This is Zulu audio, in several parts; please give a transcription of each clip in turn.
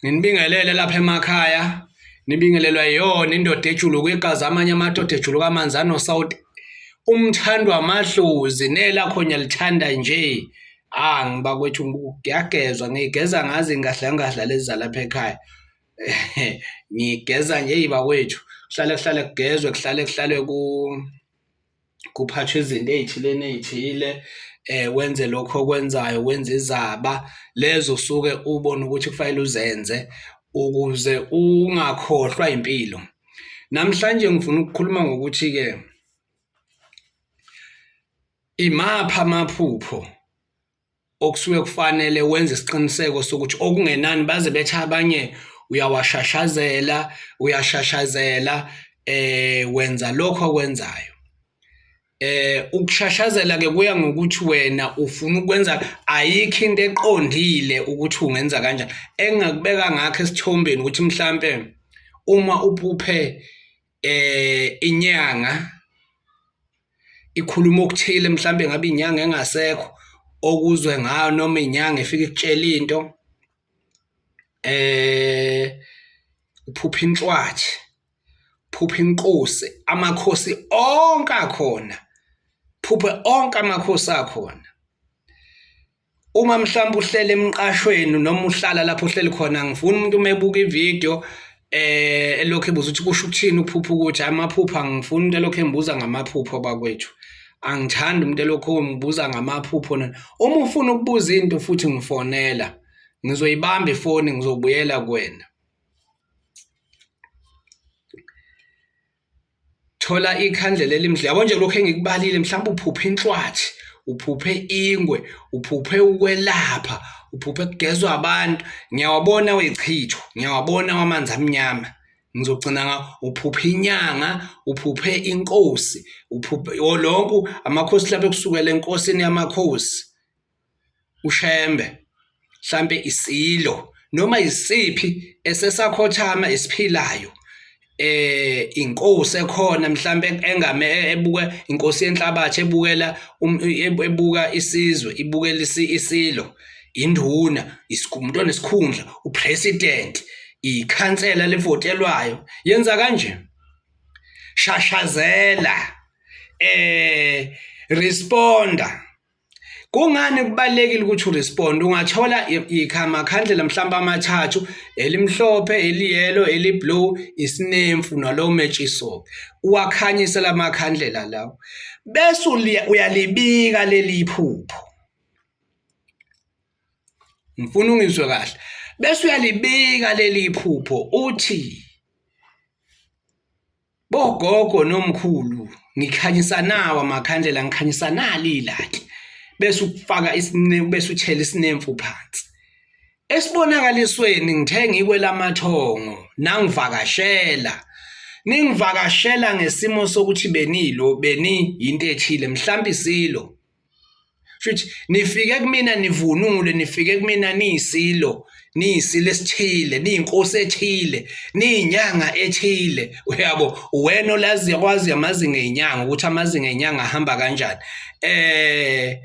Nginibingelele lapha emakhaya nibingelelwa yona indoda ejuluka igazi amanye amadoda ejuluka amanzi anosawuti umthandwa amadlozi nelakhonya lithanda nje ah ngiba kwethu ngiyagezwa ngigeza ngazi ngahla ngahla lezalapha ekhaya ngigeza nje yiba kwethu kuhlale kuhlale kugezwe kuhlale kuhlale ku kuphathwa izinto ey'thile ney'thile eh wenze lokho okwenzayo wenze izaba lezo usuke ubona ukuthi kufanele uzenze ukuze ungakhohlwa impilo namhlanje ngifuna ukukhuluma ngokuthi ke imapha amaphupho okusuke kufanele wenze isiqiniseko sokuthi okungenani baze bethe abanye uyawashashazela uyashashazela eh wenza lokho okwenzayo eh ukushashazela ke kuya ngokuthi wena ufuna ukwenza ayikho into eqondile ukuthi ungenza kanjani engakubeka ngakho esithombeni ukuthi mhlambe uma uphuphe eh inyanga ikhuluma okuthile mhlambe ngabe inyanga engasekho okuzwe ngayo noma inyanga efika ikutshela into eh uphupha inhlwathi phupha inkosi amakhosi onke akhona phuphe onke amakhosi akhona Uma mhlawumbe uhlela emqashweni noma uhlala lapho uhleli khona angifuni umuntu uma ebuka ividiyo eh elokhu ebuza ukuthi kusho ukuthini uphupha ukuthi amaphupha angifuni umuntu elokhu embuza ngamaphupho bakwethu angithandi umuntu elokhu embuza ngamaphupho uma ufuna ukubuza into futhi ngifonela ngizoyibamba ifoni ngizobuyela kuwena thola ikhandlela elimdla yabo nje lokho engikubalile mhlawumbe uphuphe inhlwathi uphuphe ingwe uphuphe ukwelapha uphuphe kugezwa abantu ngiyawabona wechicho ngiyawabona wamanzi amnyama ngizogcina nga uphuphe inyanga uphuphe inkosi uphuphe lonke amakhosi lapha kusukela enkosini yamakhosi ushembe mhlambe isilo noma isiphi esesakhothama esiphilayo eh inkosi ekhona mhlambe engame ebuka inkosi yenhlabathi ebukela um, ebuka isizwe ibukela isilo induna isikumuntu onesikhundla upresident ikhansela levotelwayo yenza kanje shashazela eh responda Kungani kubalekile ukuthi uresponde ungathola ikhamakhandlela mhlawumbe amathathu elimhlophe eliyelo eliblue isinemfu nalowo metshisoke uwakhanyise lamakhandlela lawo bese uyalibika leli phupho ngifuna ungizwe kahle bese uyalibika leli phupho uthi Bogogo nomkhulu ngikhanyisa nawo amakhandlela ngikhanyisa nali ilaki bese ukufaka isinemfu bese uthela isinemfu phansi esibonakalisweni ngithe ngikwelamathongo nangivakashela ningivakashela ngesimo sokuthi benilo beni yinto ethile mhlawumbe isilo Futhi nifike kumina nivunule nifike kumina niyisilo niyisilo esithile niyinkosi ethile niyinyanga ethile uyabo wena olazi yakwazi amazinga ezinyanga ukuthi amazinga ezinyanga ahamba kanjani eh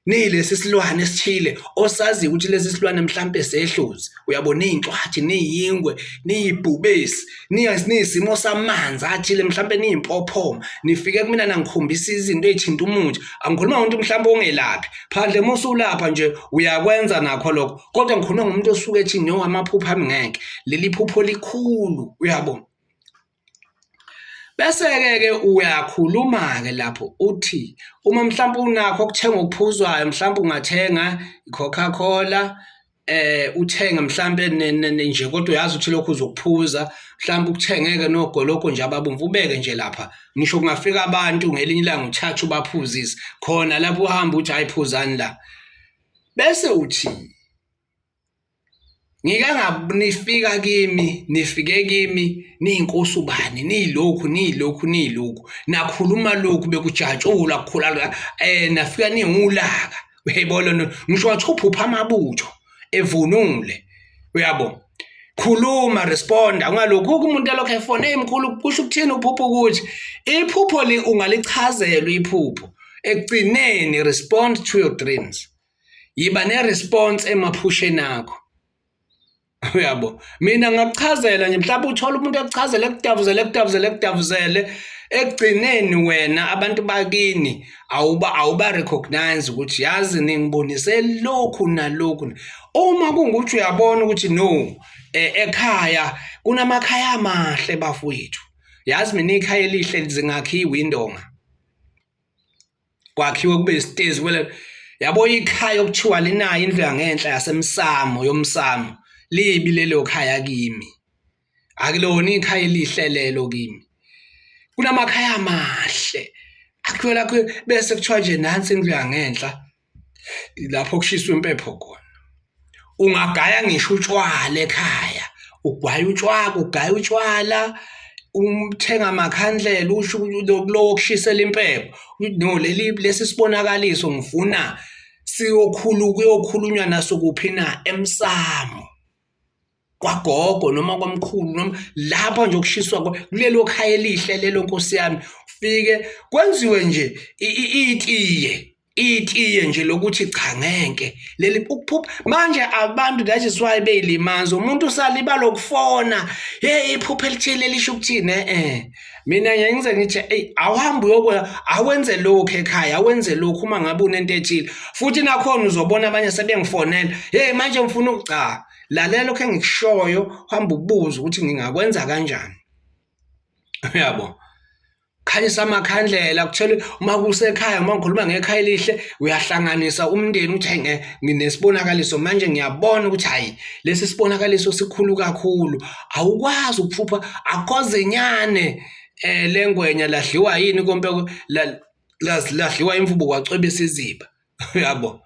nilesi silwane esithile osazi ukuthi lesi silwane mhlambe sehluzi uyabo niyincwathi niyingwe niyibhubesi niyisimo samanzi athile mhlawumbe niyimpophoma nifike kumina nangikhombisa izinto ezithinta umuntu angikhuluma ngomuntu mhlawumbe ongelaphi phandle uma usulapha nje uyakwenza nakho lokho kodwa ngikhuluma ngomuntu osuke ethi no amaphupho ami ngeke leli phupho likhulu uyabo bese-ke ke uyakhuluma-ke lapho uthi uma mhlawumbe unakho okuthenga okuphuzwayo mhlawumbe ungathenga i-coca cola eh uthenge mhlambe nje kodwa uyazi ukuthi lokho uzokuphuza mhlambe ukuthengeke nogoloko nje ababomvu ubeke nje lapha ngisho kungafika abantu ngelinye ilanga uthathe ubaphuzise khona lapho uhamba uthi ayiphuzani la bese uthi ngike nganifika kimi nifike kimi niyinkosi ubani niyilokhu niyilokhu niyilokhu nakhuluma lokhu bekujatshula kukhula eh nafika niwulaka uyayibona lento ngisho wathi uphupha amabutho evunule uyabo khuluma respond ungalokhu umuntu alokho efone emkhulu kusho ukuthini uphupho ukuthi iphupho li ungalichazela iphupho ekugcineni respond to your dreams yiba ne response emaphusheni akho uyabo mina ngakuchazela nje mhlawumbe uthole umuntu ekuchazela ekudavuzele ekudavuzele ekudavuzele ekugcineni wena abantu bakini awuba awuba recognize ukuthi yazi ningibonise lokhu nalokhu uma kungukuthi uyabona ukuthi no e, ekhaya kunamakhaya amahle bafowethu yazi mina ikhaya elihle zingakhiwa indonga kwakhiwe kube isitezi kwele yabo ikhaya okuthiwa linayo indlu yangenhla yasemsamo yomsamo libi lelo khaya kimi akulona ikhaya elihle lelo kimi kunamakhaya amahle akhiwe lakho bese kuthiwa nje nansi indlu yangenhla lapho kushiswa impepho khona ungagaya ngisho utshwala ekhaya ugwaya utshwala ugaya utshwala umthenga amakhandlela usho lokulowo kushisela impepho no leli lesi sibonakaliso ngifuna siyokhulu kuyokhulunywa naso kuphi na emsamo kwagogo noma kwamkhulu noma lapha nje okushiswa kulelo khaya elihle lelo nkosi yami fike kwenziwe nje itiye itiye nje lokuthi cha ngeke leli ukuphupha manje abantu that is why beyilimaza umuntu usaliba lokufona hey iphupha elithile lisho ukuthini eh, eh. mina ngeke ngize ngithi hey awuhambi uyokwenza awenze lokho ekhaya awenze lokho uma ngabe unento ethile futhi nakhona uzobona abanye sebengifonela hey manje ngifuna ukucha lalela lokho engikushoyo hamba ubuze ukuthi ngingakwenza kanjani uyabo khanyisa amakhandlela kuthele uma kusekhaya uma ngikhuluma ngekhaya elihle uyahlanganisa umndeni uthi hayi nginesibonakaliso manje ngiyabona ukuthi hayi lesi sibonakaliso sikhulu kakhulu awukwazi ukuphupha akhoze nyane eh lengwenya ladliwa yini kompe ladliwa imvubu kwacwebisa iziba uyabo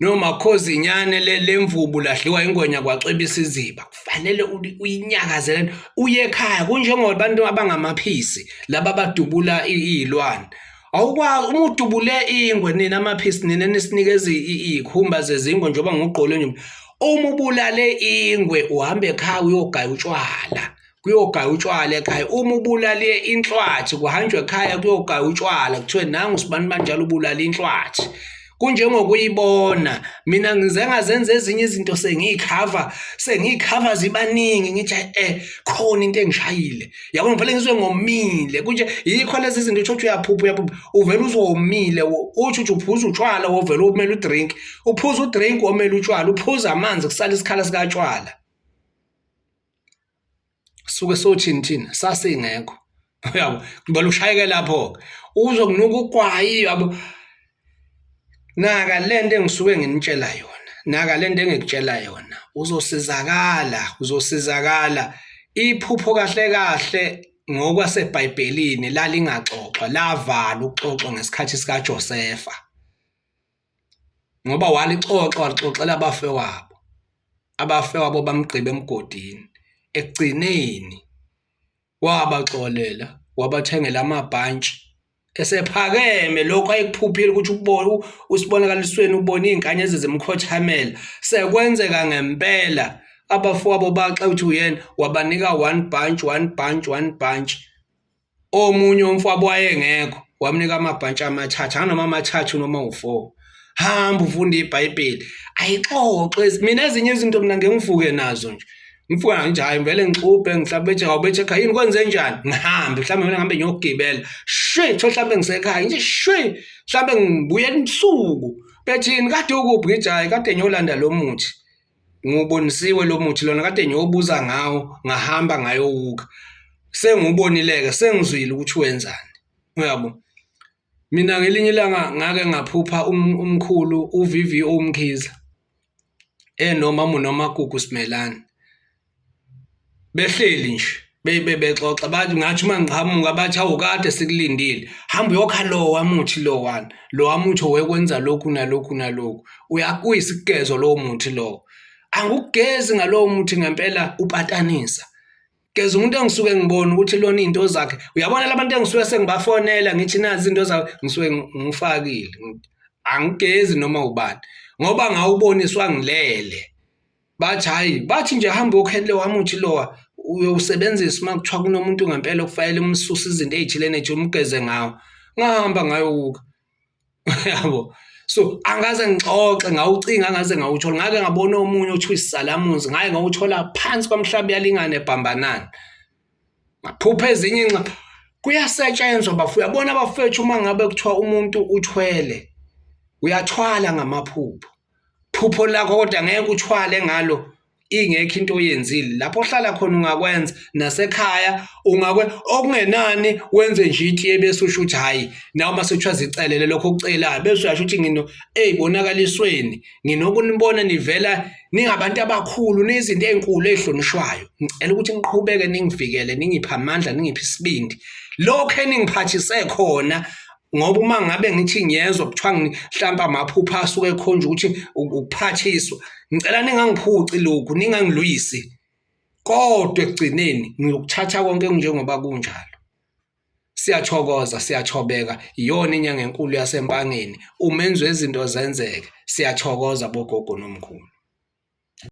No makhozi inyane le lemvubu lahliwa ingwenya kwacwebisa iziba kufanele uyinyakazele uye ekhaya kunjengoba abantu abangamaphisi laba badubula izilwane awukwazi uma udubule ingwe nina amaphisi nina nisinikeza ikhumba zezingwe njengoba ngugqole nje uma ubulale ingwe uhambe ekhaya uyogaya utshwala kuyogaya utshwala ekhaya uma ubulale inhlwathi kuhanjwa ekhaya kuyogaya utshwala kuthiwe nangu sibani banjalo ubulala inhlwathi kunjengokuyibona mina ngize ngazenza ezinye izinto sengiyikhava sengiyikhava zibaningi ngithi eh khona into engishayile yabo ngivele ngizwe ngomile kunje yikho lezi zinto uthi uthi uyaphupha uyaphupha uvele uzomile uthi uthi uphuza utshwala wovele umele udrink uphuza udrink omele utshwala uphuza amanzi kusala isikhala sikatshwala suke sothini thina sasingekho uyabo ngibona ushayeke lapho-ke uzokunuka ugwayi yabo naka le nto engisuke nginitshela yona naka le nto engikutshela yona uzosizakala uzosizakala iphupho kahle kahle ngokwasebhayibhelini lalingaxoxwa lavala ukuxoxwa ngesikhathi sikaJosefa ngoba walixoxa walixoxela abafewabo abafewabo bamgqiba emgodini ekugcineni wabaxolela wabathengela amabhantshi esephakeme lokhu ayekuphuphile ukuthi ubone usibonakalisweni ubone izingane ezizimkhothamela sekwenzeka ngempela abafowabo baxa uthi uyena wabanika one bunch one bunch one bunch Omunye umfowabo wayengekho wamnika amabhantshi amathathu anoma amathathu noma u-four hamba ufunde ibhayibheli ayixoxe mina ezinye izinto mina ngengifuke nazo nje ngifuke ngithi hayi ngivele ngixubhe mhlawumbe ethi awubethe ekhaya yini kwenze njani ngihambe mhlawumbe mina ngihambe ngiyogibela shwi kuthiwa mhlawumbe ngisekhaya ngithi shwi mhlawumbe ngibuyela ubusuku bethini kade ukuphi ngithi hhayi kade ngiyolanda lo muthi ngiwubonisiwe lo muthi lona kade ngiyobuza ngawo ngahamba ngayowuka sengiwubonileke sengizwile ukuthi wenzani uyabo mina ngelinye ilanga ngake ngaphupha um-, umkhulu uVVO Mkhize enoma uNomagugu Simelane behleli nje bebe bexoxa bathi ngathi uma ngiqhamuka bathi awu kade sikulindile hamba uyokha lo wamuthi lo wani lo wamuthi owekwenza lokhu nalokhu nalokhu uyakuyisigezo lowo muthi lowo angikugezi ngalowo muthi ngempela upatanisa geza umuntu engisuke ngibona ukuthi lona into zakhe uyabona labantu engisuke sengibafonela ngithi nazi into zawo ngisuke ngifakile angigezi noma ubani ngoba ngawuboniswa ngilele bathi hhayi bathi nje hambe okhenle wamuthi lowa uyowusebenzisa uma kuthiwa kunomuntu ngempela okufanele umsuse izinto ey'thile nethi umgeze ngawo ngahamba ngayowuka yabo so angaze ngixoxe ngawucinga angaze ngawuthola ngake ngabona omunye othiwa isizalamuzi ngaye ngawuthola phansi kwamhlawumbe yalingane ebhambanani ngaphupha ezinye inxa kuyasetshenzwa bafu uyabona bafethu uma ngabe kuthiwa umuntu uthwele uyathwala ngamaphupho phupho lakho kodwa ngeke uthwale ngalo ingekho into oyenzile lapho ohlala khona ungakwenza nasekhaya ungakwe okungenani wenze nje ithi ebese usho ukuthi hayi nawe uma sekuthiwa zicelele lokho okucelayo bese uyasho ukuthi ngino eyi bonakalisweni nginokunibona nivela ningabantu abakhulu nezinto ey'nkulu ey'hlonishwayo ngicela ukuthi niqhubeke ningivikele ningiphe amandla ningiphe isibindi lokho eningiphathise khona ngoba uma ngabe ngithi ngiyezwa kuthiwa mhlawumbe amaphupha asuke ekhonjwa ukuthi ukuphathiswa ngicela ningangiphuci lokhu ningangilwisi kodwa ekugcineni ngiyokuthatha konke kunjengoba kunjalo siyathokoza siyathobeka iyona inyanga enkulu yasempangeni umenzi wezinto zenzeke siyathokoza bogogo nomkhulu